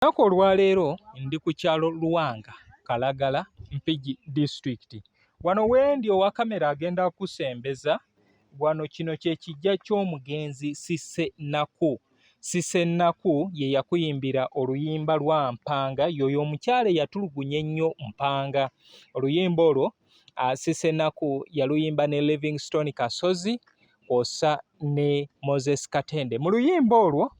Olunaku olwaleero ndi ku kyalo Luwanga Kalagala Mpigi disitulikiti wano wendi owa kamera agenda kusembeza wano kino kye kijja ky'omugenzi Sise Naku Sise Naku ye yakuyimbira oluyimba lwa Mpanga yoyo omukyala eyatulugunya ennyo Mpanga oluyimba olwo uh, Sisenaku yaluyimba ne Livingstone Kasozi kwosa ne Moses Katende mu luyimba olwo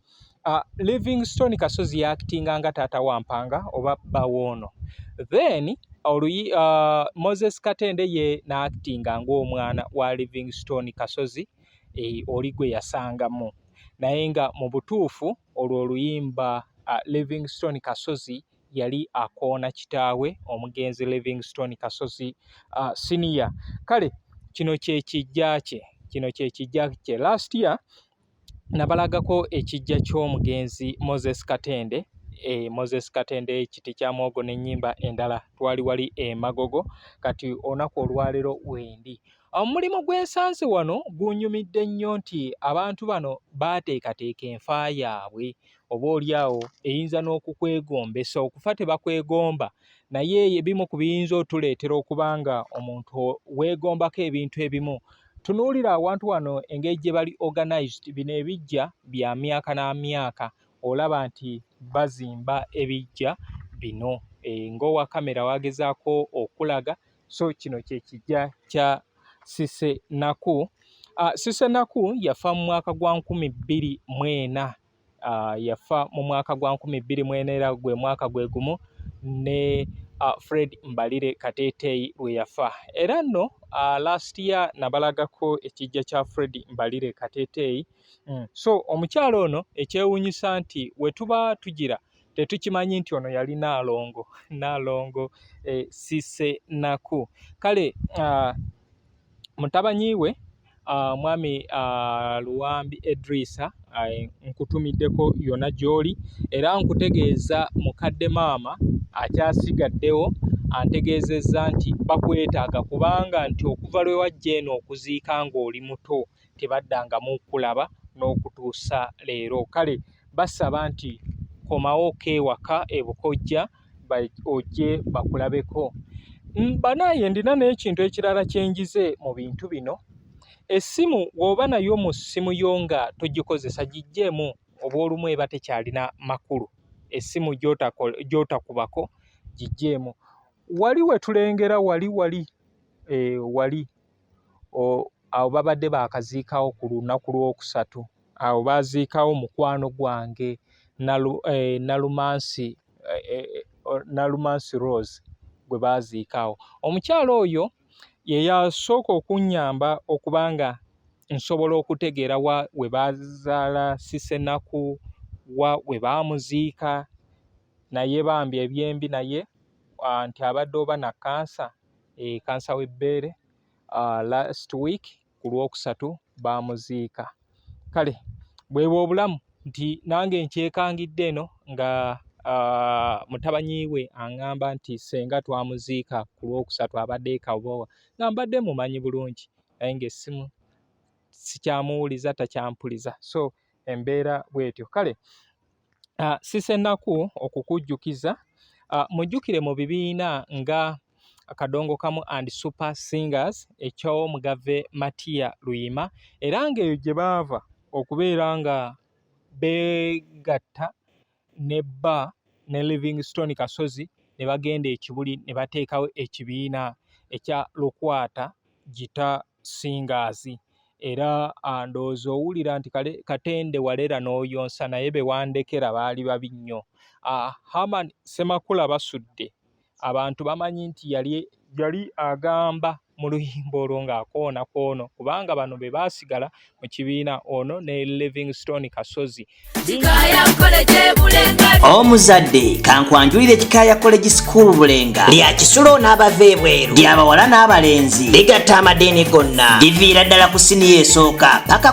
uh, Livingstone Kasozi yakitinga nga taata wa Mpanga oba bba woono then oluyi uh, Moses Katende ye naakitinga ng'omwana wa Livingstone Kasozi e, oli gwe yasangamu naye nga mu butuufu olwo oluyimba uh, Livingstone Kasozi yali akoona kitaawe omugenzi Livingstone Kasozi uh, senior kale kino kyekijja kye kino kyekijja kye last year nabalagako ekijja ky'omugenzi Moses Katende e Moses Katende ekiti kya mwogo n'ennyimba endala twali wali emagogo kati olunaku olwaleero wendi omulimu gw'ensansi wano gunyumidde nnyo nti abantu bano baateekateeka enfa yaabwe oboolyawo eyinza n'okukwegombesa okufa tebakwegomba naye ebimu ku biyinza otuleetera okuba nga omuntu weegombako ebintu ebimu tunuulira awantu wano engeri gye bali organized bino ebijja bya myaka na myaka olaba nti bazimba ebijja bino e, ng'owa kamera wagezaako okulaga so kino kye kijja kya sise naku uh, sise naku yafa mu mwaka gwa nkumi bbiri mwena uh, yafa mu mwaka gwa nkumi bbiri mwena era gwe mwaka gwe gumu ne uh, fred mbalire kateeteeyi lwe yafa era nno uh, last year nabalagako ekijja kya fred mbalire kateeteeyi mm. so omukyalo ono ekyewunyisa nti wetuba tugira tetukimanyi nti ono yali naalongo naalongo eh, sisenaku kale uh, mutabanyi we uh, mwami uh, luwambi edrisa uh, nkutumiddeko yona gyoli era nkutegeeza mukadde maama akyasigaddewo antegeezezza nti bakwetaaga kubanga nti okuva lwe wajja eno okuziika ng'oli muto tebaddangamu kulaba n'okutuusa leero kale basaba nti komawo ko ewaka ebukojja ojje bakulabeko mm, banaye ndina n'ekintu ekirala kyenjize mu bintu bino essimu w'oba nayo mu ssimu yo nga togikozesa gijjeemu oba olumu eba tekyalina makulu essimu gy'otakubako gijjeemu wali wetulengera wali wali eh, wali awo babadde baakaziikawo ku lunaku lwokusatu awo baaziikawo mukwano gwange eh, nalumansi eh, eh, nalumansi rose gwe baaziikawo omukyalo oyo ye yasooka okunnyamba okuba nga nsobola okutegeera wa we baazaala sisenaku wa we baamuziika naye bambi ebyembi naye ah, nti abadde oba na kansa e kansa w'ebbeere uh, last week ku lwokusatu baamuziika kale bwebwe obulamu nti nange nkyekangidde eno nga uh, mutabanyi we aŋŋamba nti senga twamuziika ku lwokusatu abadde ekabowa nga mbadde mumanyi bulungi naye ngaessimu sikyamuwuliza takyampuliza so embeera bwetyo kale uh, sisenaku okukujjukiza uh, mujjukire mu bibiina nga akadongo kamu and super singers ekyomugave matiya luyima era ngaeyo gye baava okubeera nga begatta ne bba ne Livingstone Kasozi ne bagenda e Kibuli ne bateekawo ekibiina ekya Lukwata Gita Singers era ndowooza owulira nti Katende Walera n'oyonsa naye be wandekera baali babi nnyo. Herman Ssemakula Basudde abantu bamanyi nti yali yali agamba mu luyimba olwo ng'akoona kwono kubanga bano be baasigala mu kibiina ono ne livingstone kasozi omuzadde kankwanjulire kikaaya college school bulenga lya kisulo n'abava ebweru lyabawala n'abalenzi ligatta amadeeni gonna liviira ddala ku siniya esooka paka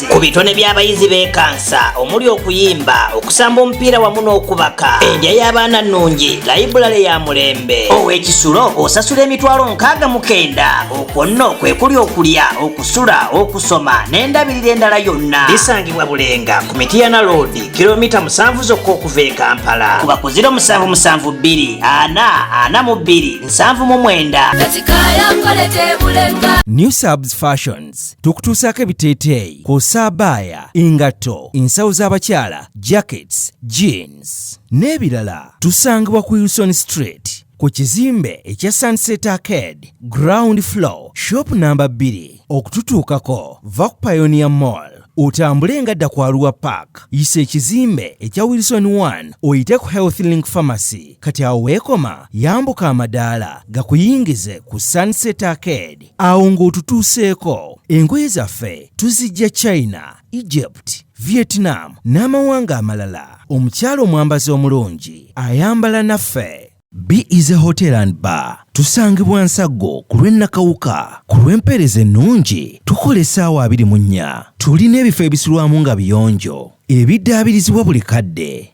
ku bitone by'abayizi bekansa omuli okuyimba okusamba omupiira wamu n'okubaka endya y'abaana nnungi layibulale ya mulembe ow'ekisulo osasula emitwalo nkaaga mukenda okwo nno kwe kuli okulya okusula okusoma n'endabirira endala yonna bisangibwa bulenga ku mitiyana loodi kilomita musanvu zokka okuva e kampala kuba ku ziro musanvu musanvu bbiri ana ana mu bbiri nsanvu mu mwenda New Subs Fashions tukutuusaako ebiteeteeyi kw'ossa abaaya engatto ensawo z'abakyala jackets jeans n'ebirala tusangibwa ku wilson street ku kizimbe ekya sunset arcade ground floor shop namba 2 okututuukako va ku pionia mall otambule nga dda kwaluwa park yisa ekizimbe ekya wilson 1 oyite ku health link pharmacy kati awo weekoma yambuka amadaala gakuyingize ku sunset arcade awo ng'otutuuseeko engoye zaffe tuzijja china egypt vietnam n'amawanga amalala omukyala omwambazi omulungi ayambala naffe b is a hotel and bar tusangibwa nsaggo ku lw'ennakawuka ku lw'empeereza ennungi tukola essaawa abiri mu nnya tulina ebifo ebisulwamu nga biyonjo ebiddaabirizibwa buli kadde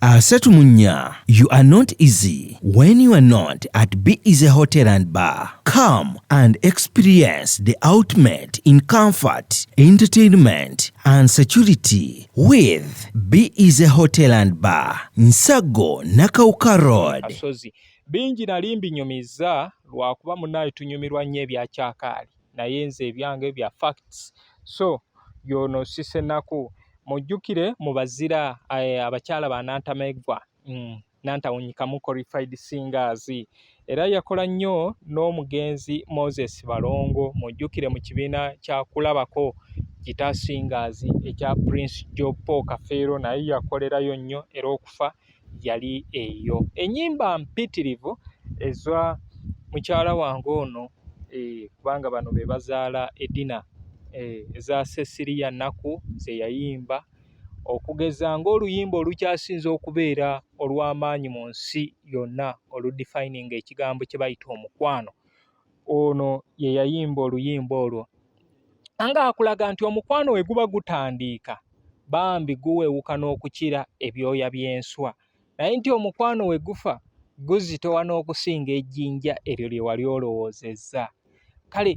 Asatu mu nnya, you are not easy when you are not at Be Easy Hotel and Bar. Come and experience the ultimate in comfort, entertainment and security with Be Easy Hotel and Bar, Nsago Nakauka Road. Asozi. Bingi nali mbinyumizza lwakuba munaye tunyumirwa nnyo ebya kyakaali. naye nze ebyange bya facts so yono sisenaku mujjukire mu bazira eh, abakyala ba nantameggwa mm, nantawunyikamu qualified singers era yakola nnyo n'omugenzi moses balongo mujjukire mu kibiina kyakulabako gita singers ekya prince jopo kafeero naye yakolerayo nnyo era okufa yali eyo enyimba mpitirivu eza mukyala wange ono eh, kubanga bano be bazaala edina eh, eza sesiriya nnaku ze yayimba okugeza ng'oluyimba olukyasinze okubeera olw'amaanyi mu nsi yonna oludifininga ekigambo kye bayita omukwano ono ye yayimba oluyimba olwo nga akulaga nti omukwano we guba gutandiika bambi guwewuka n'okukira ebyoya by'enswa naye nti omukwano we gufa guzitowa n'okusinga ejjinja eryo lye wali olowoozezza kale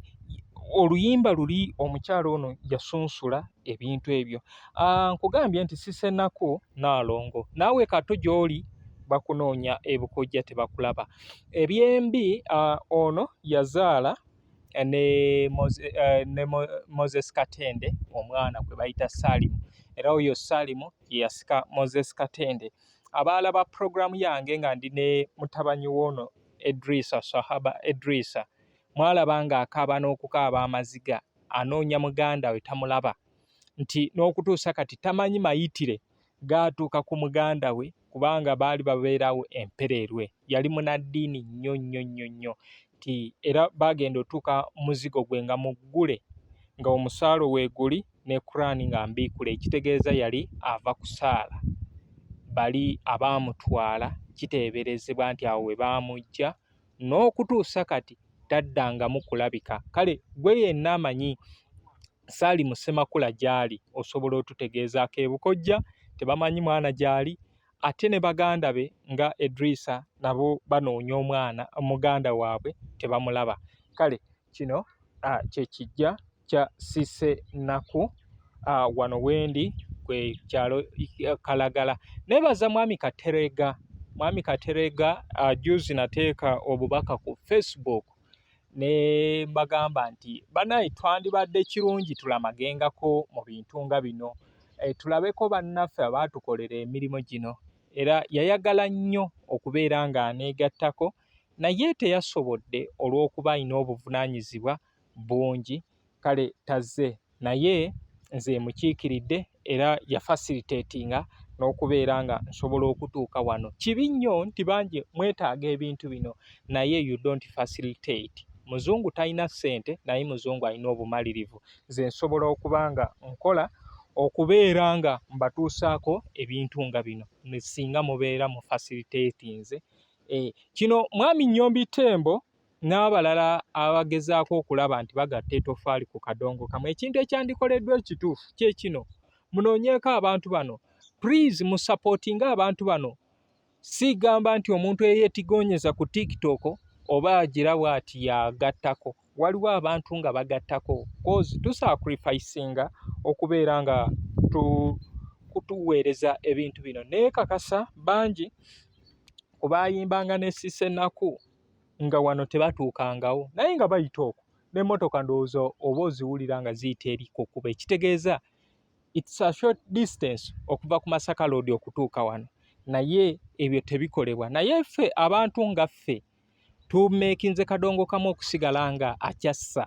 oluyimba luli omukyala ono yasunsula ebintu ebyo ah, nkugambye nti sisenaku naalongo naawe kato gy'oli bakunoonya ebukojja tebakulaba ebyembi ah, ono yazaala eh, ne eh, moses katende omwana gwe bayita salimu era oyo salimu yeyasika moses katende abaala ba puroguramu yange nga ndi ne mutabanyi woono edrisa sahaba edrisa mwalaba nga akaaba n'okukaaba amaziga anoonya muganda we tamulaba nti n'okutuusa kati tamanyi mayitire gaatuuka ku muganda we kubanga baali babeerawo empereerwe yali munaddiini nnyo nnyo nnyo nnyo nti era baagenda otuuka muzigo gwe nga muggule nga omusaalo weeguli ne Quran nga mbiikule ekitegeeza yali ava kusaala bali abaamutwala kiteeberezebwa nti awo we baamuggya n'okutuusa kati taddangamu kulabika kale gwe yenna amanyi Saalimu Ssemakula gy'ali osobola otutegeeza akeebukojja tebamanyi mwana gy'ali ate ne baganda be nga Edrisa nabo banoonya omwana muganda waabwe tebamulaba kale kino kye kijja kya Cissy Naku wano wendi kwe kyalo Kalagala nebaza mwami Katerega mwami Katerega juzi nateeka obubaka ku Facebook ne mbagamba nti banaye twandibadde kirungi tulamagengako mu bintu nga bino e, tulabeko bannaffe abaatukolera emirimu gino era yayagala nnyo okubeera ng'aneegattako naye teyasobodde olw'okuba alina obuvunaanyizibwa bungi kale tazze naye nze mukiikiridde era ya facilitatinga n'okubeera nga nsobola okutuuka wano kibi nnyo nti bangi mwetaaga ebintu bino naye you don't facilitate muzungu talina ssente naye muzungu alina obumalirivu nze nsobola okuba nga nkola okubeera nga mbatuusaako ebintu nga bino singa mubeera mu facilitatinze eh, kino mwami nyombi tembo n'abalala abagezaako okulaba nti bagatta etofaali ku kadongo kamu ekintu ekyandikoleddwa ekituufu kye kino munoonyeeko abantu bano please musapootinge abantu bano sigamba nti omuntu eyetigonyeza ku tiktok oba agira bwati yagattako waliwo abantu nga bagattako kozi tusacrificinga okubeera nga tu kutuweereza ebintu bino naye kakasa bangi ku bayimbanga ne sisenaku nga wano tebatuukangawo naye nga bayita okwo n'emmotoka ndowooza oba oziwulira nga ziyita eri ku kkuba ekitegeeza its a short distance okuva ku masaka loodi okutuuka wano naye ebyo tebikolebwa naye ffe abantu nga ffe tumeekinze kadongo kamu okusigala nga akyassa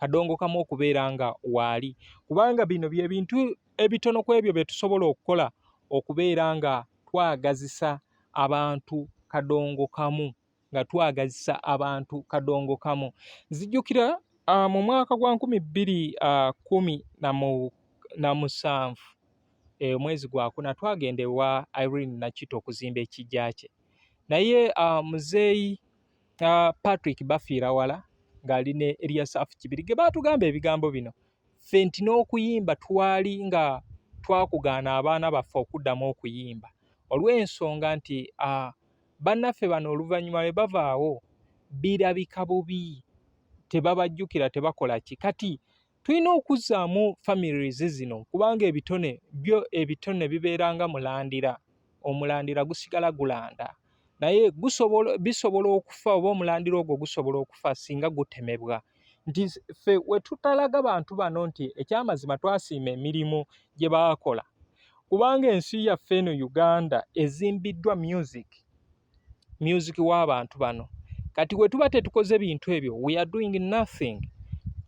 kadongo kamu okubeera nga waali kubanga bino byebintu ebitono ku ebyo bye tusobola okukola okubeera nga twagazisa abantu kadongo kamu nga twagazisa abantu kadongo kamu nzijukira uh, mu mwaka gwa nkumi bbiri uh, kumi na musanvu eh, omwezi e, gwakuna twagenda ewa irene nakito okuzimba ekijja kye naye uh, muzeeyi uh, patrick bafiira wala ng'ali ne eliasafu kibiri ge baatugamba ebigambo bino ffe nti n'okuyimba twali nga twakugaana abaana baffe okuddamu okuyimba olw'ensonga nti bannaffe bano oluvannyuma lwe bavaawo birabika bubi tebabajjukira tebakola ki kati tulina okuzzaamu families zino kubanga ebitone byo ebitone bibeeranga mulandira omulandira gusigala gulanda naye gusobola bisobola okufa oba omulandira ogwo gusobola okufa singa gutemebwa nti ffe we tutalaga bantu bano nti ekyamazima twasiima emirimu gye baakola kubanga ensi yaffe eno uganda ezimbiddwa music music w'abantu bano kati we tuba tetukoze bintu ebyo we are doing nothing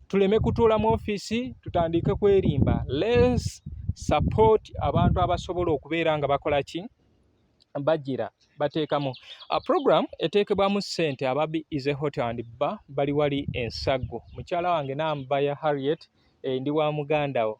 tuleme kutuula mu ofiisi tutandike kwerimba lens support abantu abasobola okubeera nga bakola ki bajira bateekamu a program eteekebwamu ssente ababi is a hotel and ba bali wali ensaggo mukyala wange nambaya harriet eh, ndi wa muganda wo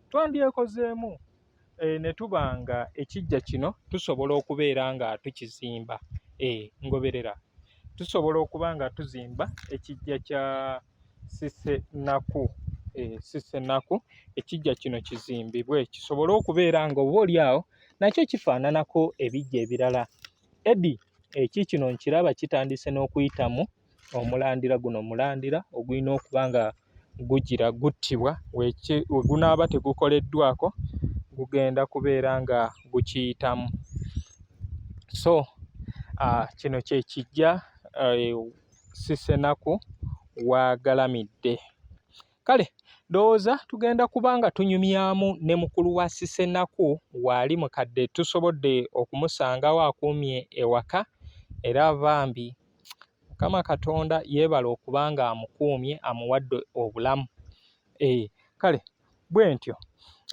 twandyekozeemu eh, ne tuba nga ekijja kino tusobola okubeera nga tukizimba eh, ngoberera tusobola okuba nga tuzimba ekijja kya sisenaku eh, sisenaku ekijja kino kizimbibwe kisobole okubeera nga oba oli awo nakyo kifaananako ebijja ebirala edi eki kino nkiraba kitandise n'okuyitamu omulandira guno mulandira ogulina okuba nga gugira guttibwa we gunaaba tegukoleddwako gugenda kubeera nga gukiyitamu so uh, kino kye kijja uh, eh, sisenaku waagalamidde kale ndowooza tugenda kuba nga tunyumyamu ne mukulu wa sisenaku waali mukadde tusobodde okumusangawo akuumye ewaka era bambi Mukama Katonda yeebale okuba ng'amukuumye amuwadde obulamu. Eeh kale bwentyo.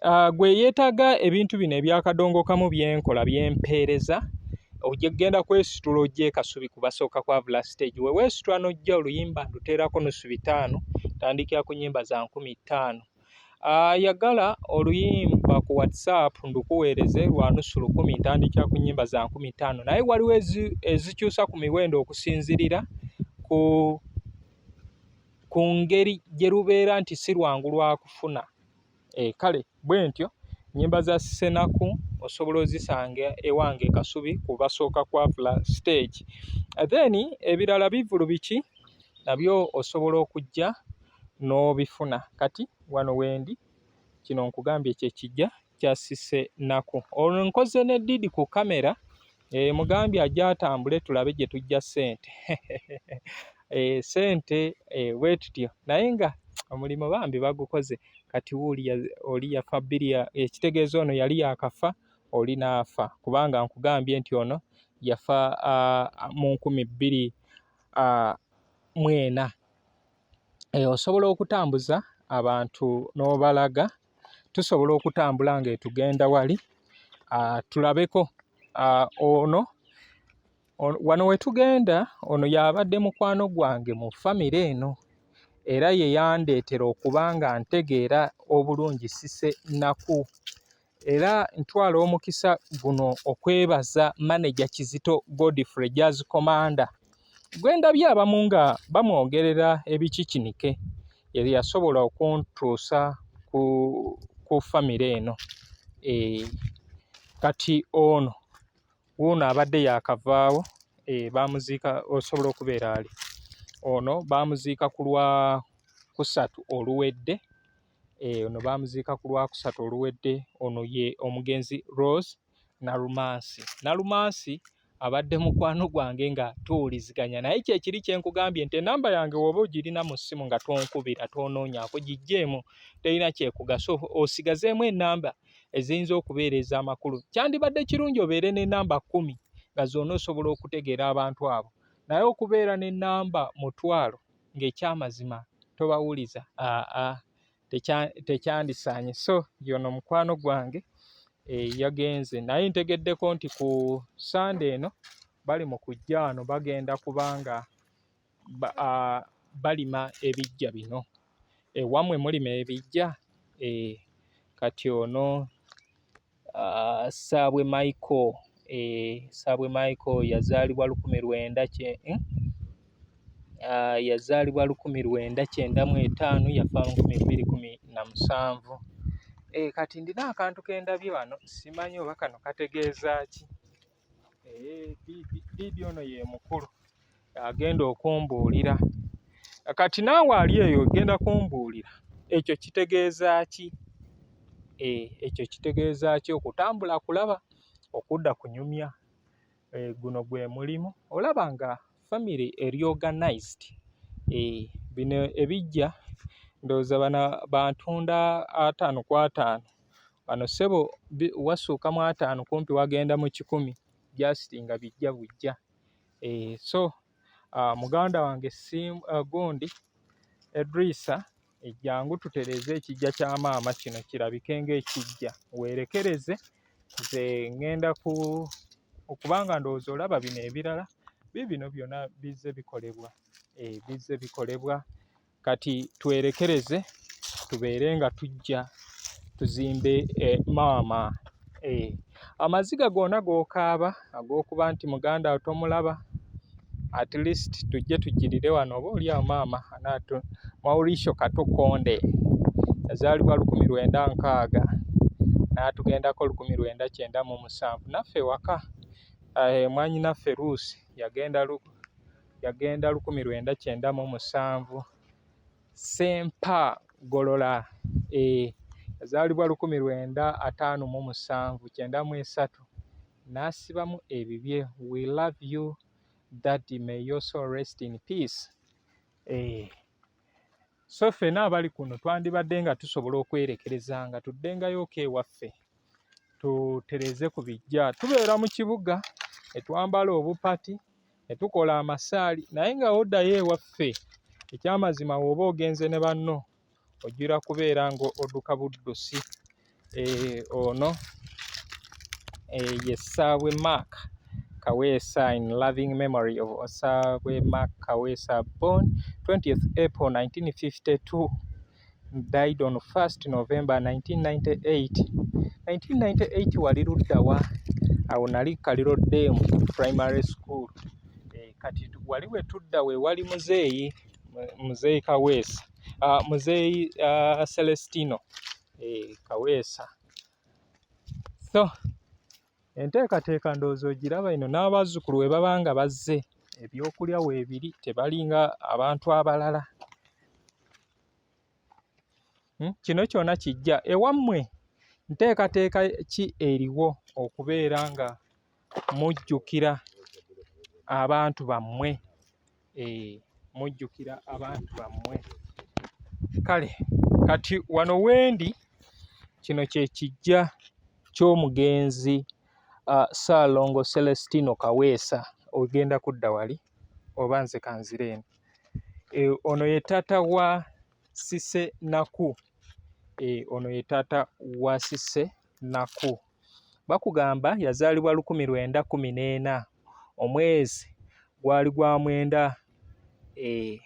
Ah, gwe eyeetaaga ebintu bino ebyakadongokamu bye nkola bye mpeereza ojja kugenda kwesitula ojja ekasubi ku basooka kwavula siteegi we weesitula n'ojja oluyimba nduteerako nusu bitaano tandikira ku nnyimba za nkumi ttaano. ayagala ah, oluyimba ku whatsapp ndukuweereze lwa nusu lukumi ntandikira ku nyimba za nkumi ttaano naye waliwo ezikyusa ku miwendo okusinzirira ku ku ngeri gye lubeera nti si lwangu lwakufuna e eh, kale bwe ntyo nyimba za senaku osobola ozisanga ewange kasubi ku basooka kwavula stage then ebirala bivulu biki nabyo osobola okujja n'obifuna kati wano wendi kino nkugambye kyekijja kyasise naku olwo nkoze ne didi ku kamera e, eh, mugambye ajja atambule tulabe gye tujja sente e, sente e, wetutyo naye nga omulimu bambi bagukoze kati wuli oli yafa bbiri ekitegeeza ono yali yakafa oli naafa kubanga nkugambye nti ono yafa uh, mu nkumi bbiri uh, mwena osobola okutambuza abantu n'obalaga, tusobola okutambula ng'etugenda wali tulabeko ono, wano we tugenda ono y'abadde mukwano gwange mu ffamire eno era ye yandeetera okuba nga ntegeera obulungi Cissy Nnaku. Era ntwala omukisa guno okwebaza maneja Kizito Godfrey Jazz Commander gwe ndabye abamu nga bamwogerera ebikikinike yali yasobola okuntuusa ku, ku famire eno e, kati ono wuuno abadde yakavaawo e, eh, bamuziika osobola okubeera ali ono bamuziika ku lwa kusatu oluwedde Eh, ono baamuziika ku lwakusatu oluwedde ono ye omugenzi rose nalumansi nalumansi abadde mukwano gwange nga tuwuliziganya naye kyekiri kyenkugambye nti enamba yange woba ogirina mu ssimu nga tonkubira tonoonyako gijjeemu terina kyekugasa osigazeemu enamba eziyinza okubeera ez'amakulu kyandibadde kirungi obeere n'enamba kkumi nga zona osobola okutegeera abantu abo naye okubeera n'enamba mutwalo ng'ekyamazima tobawuliza aa tekyandisaanye so yono mukwano gwange eh, yagenze naye ntegeddeko nti ku sande eno bali mu kujja wano bagenda kubanga balima ebijja bino ewamwe mulima ebijja eh, kati ono uh, Sabwe Michael eh, Sabwe Michael yazaalibwa lukumi lwenda kye eh? uh, yazaalibwa lukumi lwenda kyenda mu etaano yafa lukumi bbiri kumi na musanvu eh, kati ndina akantu kendabye wano simanyi oba kano kategeeza ki bibi ono ye mukulu agenda okumbuulira kati naawe ali eyo ogenda kumbuulira ekyo kitegeeza ki eh, ekyo kitegeeza ki okutambula kulaba okudda kunyumya eh, guno gwe mulimu olaba nga family eri organized eh, bino ebijja ndowooza bana bantunda ataano ku ataano Wano ssebo wasuuka mu ataano kumpi wagenda mu kikumi just nga bijja bujja. Eh, so uh, muganda wange sim uh, gundi Edrisa ejjangu tutereeze ekijja kya maama kino kirabike ng'ekijja weerekereze nze ŋŋenda ku okubanga ndowooza olaba bino ebirala bibino byona bizze bikolebwa eh, bizze bikolebwa kati twerekereze tubeere nga tujja tuzimbe e, maama e. amaziga gona gokaaba ag'okuba nti muganda wo tomulaba at least tujje tujjirire wano oba oli awo maama anaatu maurisho katukonde yazaalibwa lukumi lwenda nkaaga n'atugendako lukumi lwenda kyenda mu musanvu naffe waka e, mwanyinaffe ruusi yagenda yagenda lukumi lwenda kyenda mu musanvu sempa golola e yazaalibwa lukumi lwenda ataano mu musanvu kyenda mu esatu n'asibamu ebibye we love you that may your soul rest in peace eh. so ffena abali kuno twandibadde nga tusobola okwerekereza nga tuddengayooko ewaffe tutereze ku bijja tubeera mu kibuga etwambala obupati ne tukola amasaali naye nga oddayo ewaffe ekyamazima wooba ogenze ne banno ojjira kubeera nga odduka buddusi eh, ono eh, ye ssaabwe mark kaweesa in loving memory of ssaabwe mark kaweesa born 20th april 1952 died on 1st November 1998. 1998 wali luddawa? Awo nali Kaliro Dam Primary School. E, kati wali wetudda we wali muzeeyi muzeeyi Kaweesa uh, muzeeyi uh, Celestino e, Kaweesa so Enteekateeka ndowooza ogiraba eno n'abazzukulu we baba nga bazze ebyokulya weebiri tebalinga abantu abalala hmm? kino kyona kijja ewammwe nteekateeka ki eriwo okubeera nga mujjukira abantu bammwe eh, mujjukira abantu bammwe kale kati wano wendi kino kye kijja ky'omugenzi uh, Ssaalongo Celestino Kaweesa ogenda kudda wali oba nze kanzire eno e, ono ye taata wa Sise Naku e, ono ye taata wa Sise Naku. bakugamba yazaalibwa lukumi lwenda kumi n'ena omwezi gwali gwa mwenda eh,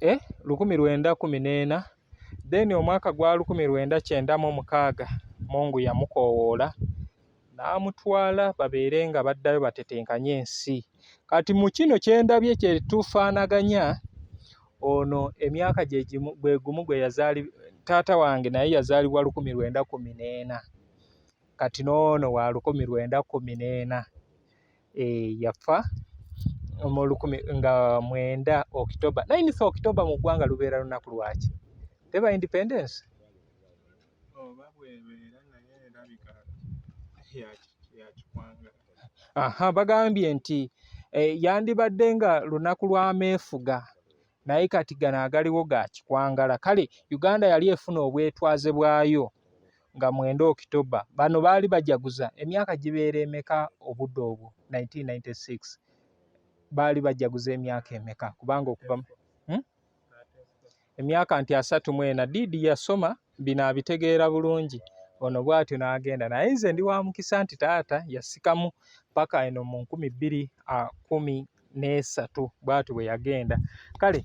eh, lukumi lwenda kumi n'ena then omwaka gwa lukumi lwenda kyenda mu mukaaga mungu yamukoowoola n'amutwala babeere nga baddayo batetenkanye ensi kati mu kino kye ndabye kye tufaanaganya ono emyaka gye gimu gwe gumu gwe yazaali taata wange naye yazaalibwa lukumi lwenda kumi n'ena kati n'ono wa lukumi lwenda kumi n'ena eh, yafa mu lukumi nga mwenda okitoba naye nisa okitoba mu ggwanga lubeera lunaku lwaki teba independence oba bwebeera naye erabika yakikwangala aha bagambye nti eh, yandibadde nga lunaku lwa meefuga naye kati gano agaliwo ga kikwangala kale uganda yali efuna obwetwaze bwayo nga mwenda okitoba bano baali bajaguza emyaka gibeera emeka obudde obwo 1996 baali bajaguza emyaka emeka kubanga okuva hmm? emyaka nti asatu mu ena diidi yasoma bino abitegeera bulungi ono bwatyo n'agenda naye nze ndi wa mukisa nti taata yasikamu paka eno mu nkumi bbiri kumi n'esatu bwatyo bwe yagenda kale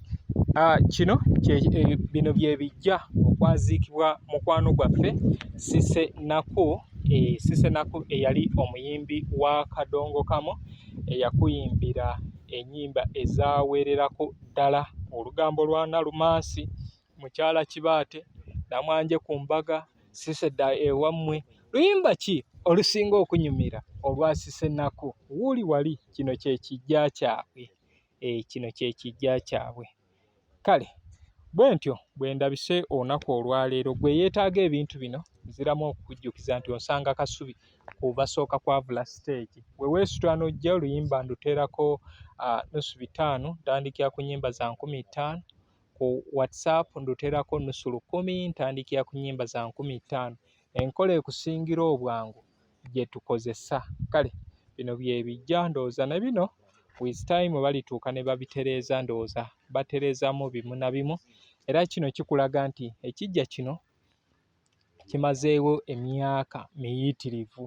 kino e, bino bye bijja okwaziikibwa mukwano gwaffe sise naku e, sise naku eyali omuyimbi wa kadongo kamu eyakuyimbira ennyimba ezaweererako ddala olugambo lwa Nalumansi mukyala Kibaate namwanje ku mbaga Siseda ewammwe luyimba ki olusinga okunyumira olwa Sisenaku wuuli wali kino kye kijja kyabwe eh, kino kye kijja kyabwe kale bwe ntyo bwe ndabise olunaku olwaleero gwe yeetaaga ebintu bino nziramu okukujjukiza nti onsanga kasubi kubasooka kwavula siteegi weweesitula n'ojja oluyimba nduteerako uh, nusu bitaano ntandikira ku nyimba za nkumi ttaano ku whatsapp nduteerako nusu lukumi ntandikira ku nyimba za nkumi ttaano enkola ekusingira obwangu gye tukozesa kale bino byebijja ndowooza ne bino with time balituuka ne babitereeza ndowooza batereezamu bimu na bimu era kino kikulaga nti ekijja kino kimazeewo emyaka miyitirivu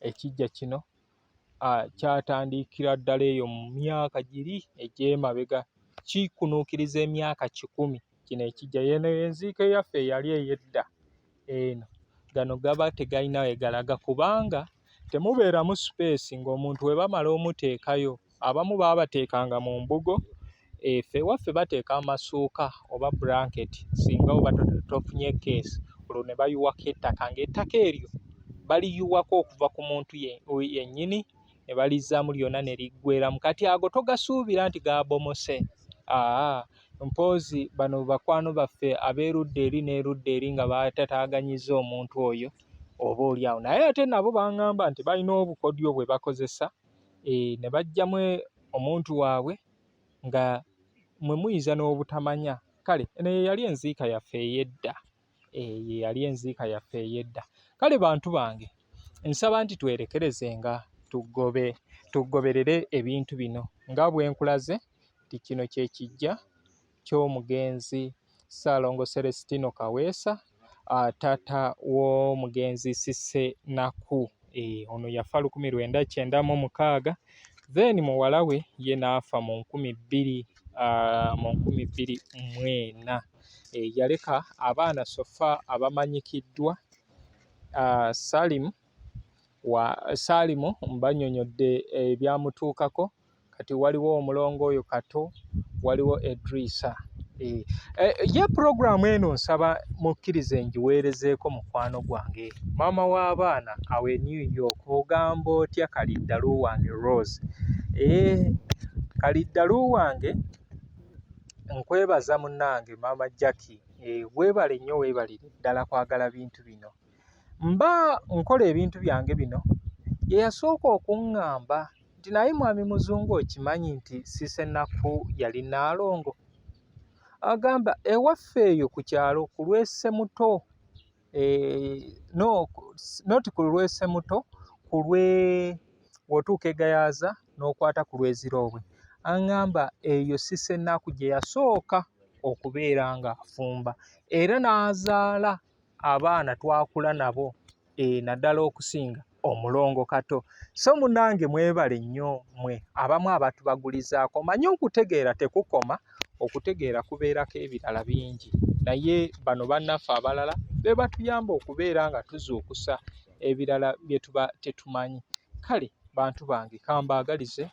ekiggya kino kyatandikira ddala eyo mu myaka giri egy'emabega kikunuukiriza emyaka kikumi kino ekiggya yeeno enziike yaffe eyali ey'edda eno gano gaba tegalina wegalaga kubanga temubeeramu sipeesi ng'omuntu webamala omuteekayo abamu baabateekanga mu mbugo efe eh, waffe bateeka amasuuka oba blanket singa oba tofunye keesi olwo ne bayiwako ettaka ng'ettaka eryo baliyiwako okuva ku muntu yennyini ne balizzaamu lyonna ne liggweramu kati ago togasuubira nti gaabomose aa mpoozi bano bakwano baffe ab'erudda eri n'erudda eri nga batataaganyiza omuntu oyo oba oli awo naye ate nabo baŋŋamba nti balina obukodyo bwe bakozesa eeh ne bajjamu omuntu waabwe nga mwe muyinza n'obutamanya kale eno ye yali enziika yaffe ey'edda eeh ye yali enziika yaffe ey'edda kale bantu bange nsaba nti twerekerezenga tugobe tugoberere ebintu bino nga bwe nkulaze nti kino kye kijja ky'omugenzi Ssaalongo Celestino Kaweesa taata w'omugenzi Cissy Naku eh, ono yafa lukumi lwenda kyenda mu mukaaga then muwala we ye n'afa mu nkumi bbiri ah, mu nkumi bbiri mwena eh, yaleka abaana sofa abamanyikiddwa ah, Salim wa Salimu mbanyonyodde ebyamutuukako eh, kati waliwo omulongo oyo kato waliwo edrisa eh, eh, ye puroguramu eno nsaba mukkirize ngiweerezeeko mukwano gwange maama w'abaana awe new york ogamba otya kaliddalu wange rose eh, kaliddalu wange nkwebaza munange maama jacki weebale nnyo weebalire ddala kwagala bintu bino mba nkola ebintu byange bino yeyasooka okuŋŋamba nti naye mwami muzungu okimanyi nti sisenaku yali naalongo agamba ewaffe eyo ku kyalo ku lwese muto e, no, not ku lwese muto ku lwe wotuuka egayaaza n'okwata ku lweziroobwe aŋŋamba eyo sisenaku gye yasooka okubeera ng'afumba era n'azaala abaana twakula nabo e, naddala okusinga omulongo kato so munange mwebale nnyo mwe abamu abantu bagulizaako manye okutegeera tekukoma okutegeera kubeerako ebirala bingi naye bano bannaffe abalala be batuyamba okubeera nga tuzuukusa ebirala bye tuba tetumanyi kale bantu bange kambaagalize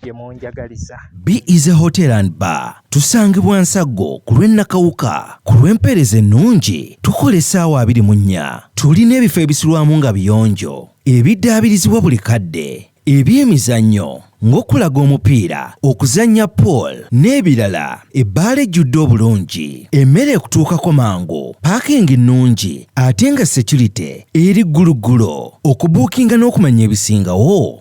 gyemunjagaliza be is a hotel and bar tusangibwa nsaggo ku lw'ennakawuka ku lw'empeereza ennungi tukola essaawa abiri mu nnya tulina ebifo ebisulwamu nga biyonjo ebiddaabirizibwa buli kadde eby'emizannyo ng'okulaga omupiira okuzannya pool n'ebirala ebbaala ejjudde obulungi emmere ekutuukako mangu paakingi nnungi ate nga securite eri gguluggulo okubuukinga n'okumanya ebisingawo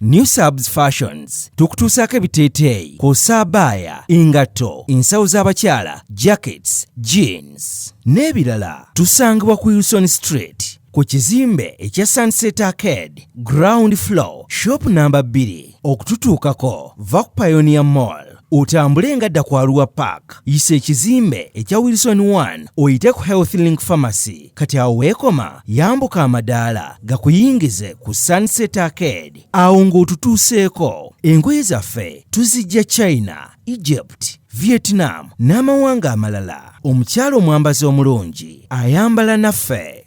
New Subs Fashions tukutuusaako ebiteeteeyi kw'ossa abaaya, engatto, ensawo z'abakyala, jackets, jeans n'ebirala. Tusangibwa ku Wilson Street ku kizimbe ekya Sunset Arcade ground floor shop namba 2. Okututuukako va ku Pioneer Mall. Otambule nga dda ku Arua Park, yisa ekizimbe ekya Wilson 1 oyite ku Health Link Pharmacy. Kati awo weekoma, yambuka amadaala gakuyingize ku Sunset Arcade. Awo ng'otutuuseeko, engoye zaffe tuzijja China, Egypt, Vietnam n'amawanga amalala. Omukyala omwambazi omulungi ayambala naffe.